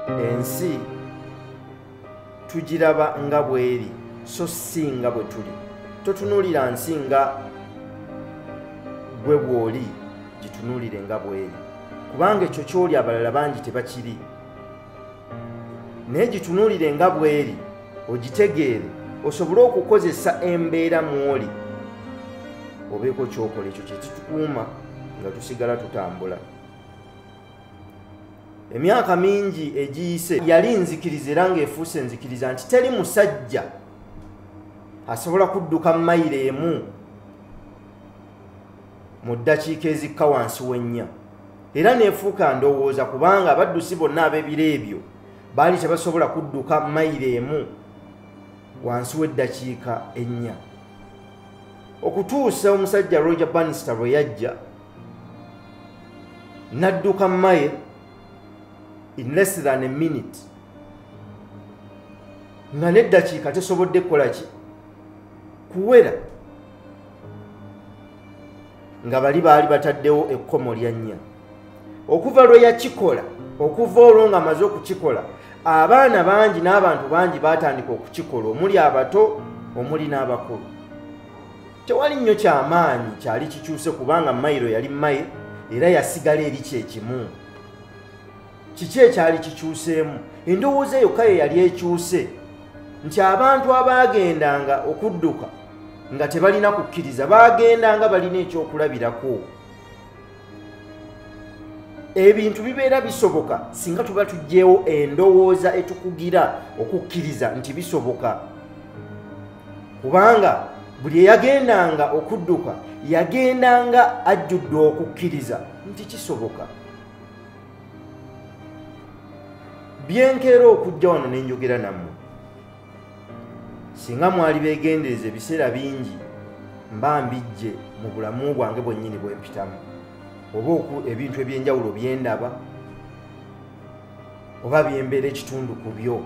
ensi tugiraba nga bweri so si nga bwe tuli totunuulira nsi nga gwe bw'oli gitunuulire nga bweri kubanga ekyo ky'oli abalala bangi tebakiri naye gitunulire nga bweri ogitegeere osobole okukozesa embeera mwoli obeeko kyokola ekyo kyekitukuuma nga tusigala tutambula emyaka mingi egiyise yali nzikiriza era ngaefuuse nzikiriza nti teri musajja asobola kudduka mayiro emu mu ddakiika ezikka wansi w'ennya era neefuuka ndowooza kubanga abaddusi bonna ab'ebiro ebyo baali tebasobola kudduka mayiro emu wansi w'eddakiika ennya okutuusa omusajja roger banista bwe yajja n'adduka maye in less than a minute nga n'eddakiika tesobodde kukola ki kuwera nga bali baali bataddewo ekkomo lya nnya okuva lwe yakikola okuva olwo nga amaze okukikola abaana bangi n'abantu bangi baatandika okukikola omuli abato omuli n'abakulu tewali nnyo kyamaanyi kyali kikyuse kubanga mayiro yali maye era yasigala eri kyekimu kiki ekyali kikyuseemu endowooza eyo kaye yali ekyuse nti abantu abaagendanga okudduka nga tebalina kukkiriza baagendanga balina ekyokulabirako ebintu bibeera bisoboka singa tuba tugyewo endowooza etukugira okukkiriza nti bisoboka kubanga buli eyagendanga okudduka yagendanga ajjudde okukkiriza nti kisoboka byenkeera okujja wano ne njogera nammwe singa mwali beegendereza ebiseera bingi mba mbijje mu bulamu bwange bwennyini bwe mpitamu oba oku ebintu eby'enjawulo bye ndaba oba byembeera ekitundu ku byo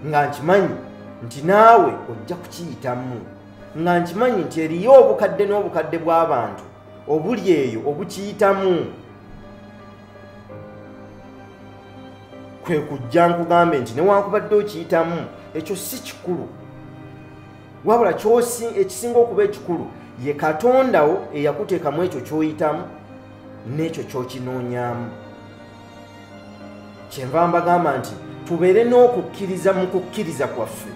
nga nkimanyi nti naawe ojja kukiyitamu nga nkimanyi nti eriyo obukadde n'obukadde bw'abantu obuli eyo obukiyitamu kwe kujja nkugambe nti newankubadde okiyitamu ekyo si kikulu wabula kyosi ekisinga okuba ekikulu ye katondawo eyakuteekamu ekyo kyoyitamu n'ekyo kyokinoonyamu kyenva mbagamba nti tubeere n'okukkiriza mu kukkiriza kwaffe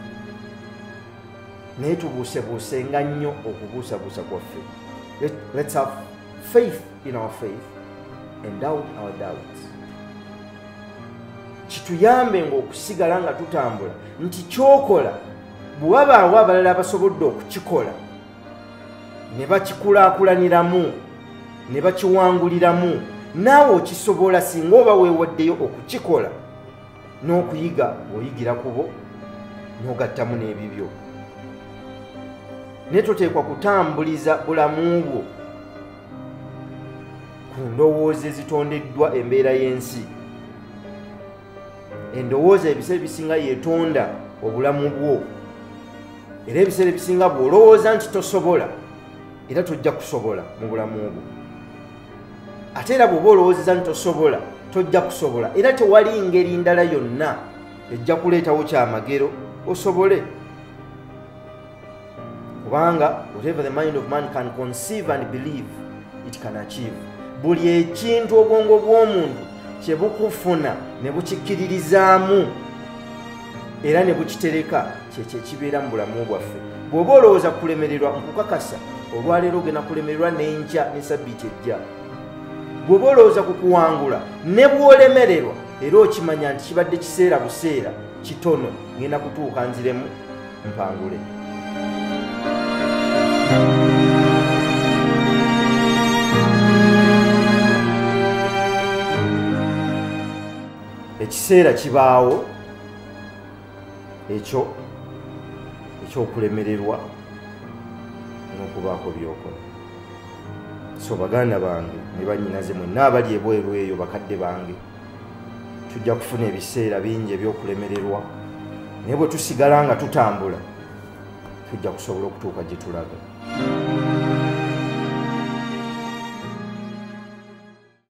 naye tubuusebuuse nga nnyo okubuusabuusa kwaffe let's have faith in our faith and doubt our doubts kituyambe ngaokusigala nga tutambula nti kyokola bwewabaawo abalala abasobodde okukikola ne bakikulaakulaniramu ne bakiwanguliramu naawe okisobola singa oba weewaddeyo okukikola n'okuyiga oyigira kubo n'ogattamu n'ebibyo naye toteekwa kutambuliza bulamu bwo ku ndowooza ezitondeddwa embeera y'ensi endowooza ebiseera ebisinga yetonda obulamu bwo era ebiseera ebisinga bw'olowooza nti tosobola era tojja kusobola mu bulamu bwo ate era bw'oba olowoozeza nti tosobola tojja kusobola era tewali ngeri ndala yonna ejja kuleetawo kyamagero osobole kubanga whatever the mind of man can conceive and believe it can achieve buli ekintu obwongo bw'omuntu kye bukufuna ne bukikkiririzaamu era ne bukitereka kyekyo ekibeera mu bulamu bwaffe bw'oba olowooza kulemererwa nkukakasa olwaleero ogenda kulemererwa n'enkya ne sabbiiti ejja bw'oba olowooza ku kuwangula ne bw'olemererwa era okimanya nti kibadde kiseera buseera kitono ngenda kutuuka nziremu mpangule ekiseera kibaawo ekyo ekyokulemererwa n'okubaako byokola so baganda bange ne banyinaze mwenna abali ebweru eyo bakadde bange tujja kufuna ebiseera bingi ebyokulemererwa naye bwe tusigala nga tutambula tujja kusobola okutuuka gye tulaga